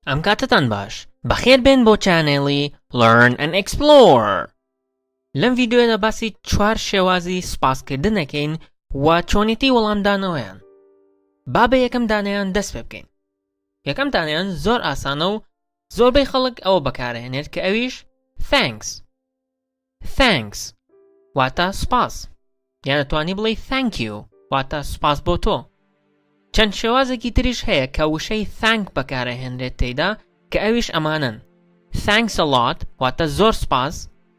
ئەم کاتتان باش بەخێر بێن بۆ چانێڵی Learn and Explore لەم ڤیددیوەدا باسی چوار شێوازی سوپاسکردنەکەین و چۆنیتی وەڵامدانەوەیان با بە یەکەم دانیان دەست پێ بکەین یەکەم دانیان زۆر ئاسانە و زۆربەی خەڵک ئەوە بەکارئەهێنێت کە ئەویش Thanks Thanks واتە سوپاس یان ئەتوانی بڵێی Thank you واتە سوپاس بۆ تۆ چەند شێوازێکی تریش هەیە کە وشەی Thank بەکارئەهێنرێت تێیدا کە ئەویش ئەمانەن Thanks a lot واتە زۆر سوپاس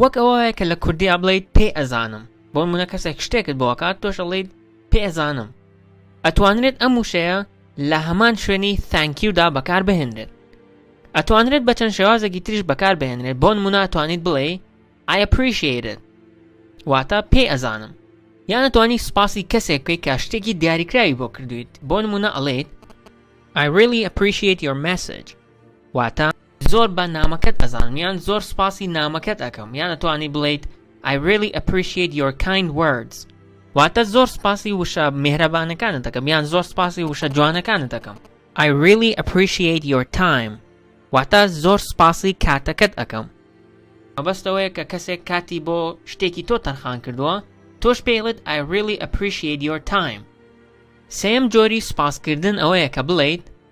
وەک ئەوە وایە کە لە کوردیا بڵێیت پێ ئەزانم. بۆ نموونە کەسێک شتێکت بۆ ئەکات تۆش ئەڵێیت پێ ئەزانم. ئەتوانرێت ئەم وشەیە لە هەمان شوێنی Thank you دا بەکار بهێنرێت. ئەتوانرێت بە چەند شێوازێکی تریش بەکار بهێنرێت بۆ نموونە ئەتوانیت بڵێی I appreciate it واتە پێ ئەزانم. یان ئەتوانی سوپاسی کەسێک بکەیت کە شتێکی دیاریکراوی بۆ کردویت بۆ نموونە ئەڵێیت I really appreciate your message واتە زۆر بە نامەکەت ئەزانم یان زۆر سوپاسی نامەکەت ئەکەم یان ئەتوانی بڵێیت I really appreciate your kind words واتە زۆر سوپاسی وشە مێهرەبانەکانت دەکەم یان زۆر سوپاسی وشە جوانەکانت دەکەم I really appreciate your time واتە زۆر سوپاسی کاتەکەت ئەکەم مەبەستەوەیە کە کەسێک کاتی بۆ شتێکی تۆ تەرخان کردووە تۆش پێڵێت I really appreciate your time سێم جۆری سوپاسکردن ئەوەیە کە بڵیت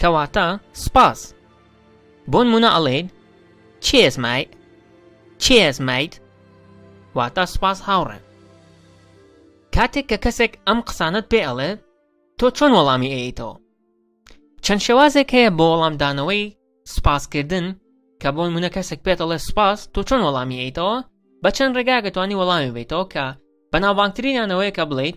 کەواتە سپاس. بۆنمونە ئەڵێیت Cheers mate Cheers mate واتا سپاس هاوڕێ. کاتێک کە کەسێک ئەم قسانەت پێ ئەڵێت تۆ چۆن وەڵامی ئەیەیتەوە؟ چەند شێوازێک هەیە بۆ وەڵامدانەوەی سپاسکردن کە بۆن منە کەسێک پێت ئەڵێ سپاس تۆ چۆن وەڵامی ئەیتەوە بە چەند ڕێگاگەتوانی وەڵامی بیتەوە کە بەناوبانگترینانەوەیە کە بڵیت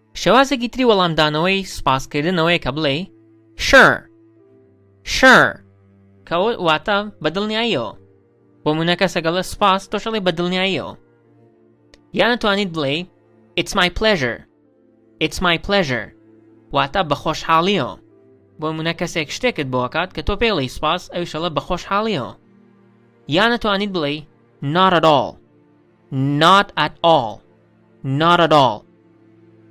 شێوازێکی تری وەڵامدانەوەی سوپاسکردنەوەیە کە بڵێی Sure Sure کە ئەوە واتە بە دڵنیاییەوە بۆ منە کەسە گەڵە سوپاس تۆشەڵی بە دڵنیاییەوە یانە توانیت بڵێ It's my pleasure It's my pleasure واتە بە خۆشحاڵیەوە بۆ منە کەسێک شتێکت بۆکات کە تۆ پێڵی سوپاس ئەوشەڵە بە خۆشحاڵیەوە یانە توانیت بڵێ Not at all Not at all Not at all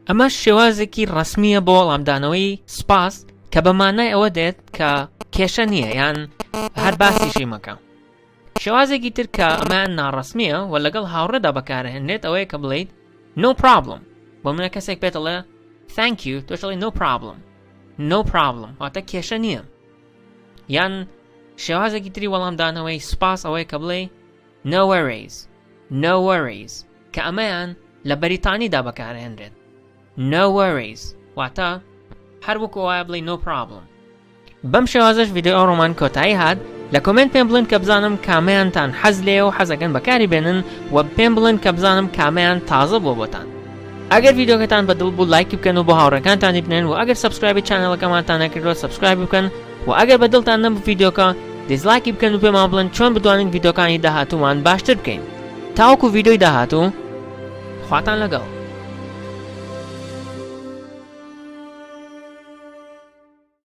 ئەمەش شێوازێکی ڕەسمییە بۆ وەڵامدانەوەی سپاس کە بە مانای ئەوە دێت کە کێشە نییە یان هەر باسیشی مەکە شێوازێکی تر کە ئەمەیان ناڕەسمییە و لەگەڵ هاوڕێدا بەکارهێنرێت ئەوەیە کە بڵیت نۆ پرابلم بۆ منە کەسێک پێتەڵێ Thank you تۆشڵی نۆ پرابلم نۆ پرابلم واتە کێشە نییە یان شێوازێکی تری وەڵامدانەوەی سپاس ئەوەیە کە بڵێ No worries No worries کە ئەمەیان لە بەریتانیدا بەکارئەهێنرێت No worries واتە هەر وەکو ئەوایە بڵێی No problem بەم شێوازەش ڤیدیۆ ئەو ڕۆمان کۆتایی هات لە کۆمێنت پێم بڵێن کە بزانم کامەیانتان حەز لێ و حەزەکەن بەکاری بێنن و پێم بڵێن کە بزانم کامەیان تازە بۆ بۆتان ئەگەر ڤیددیوکەتان بەدڵ بوو لایکی بکەن و بۆ هاوڕەکانتانی بنێن و ئەگەر سبسکرایبی چانەڵەکەمانتان نەکردوە سبسکرایب بکەن وە ئەگەر بە دڵتان نەبوو ڤیدۆکە دیسڵایکی بکەن و پێمان بڵێن چۆن بتوانین ڤیدۆکانی داهاتوومان باشتر بکەین تاوەکو ڤیدۆی داهاتوو خواتان لەگەڵ.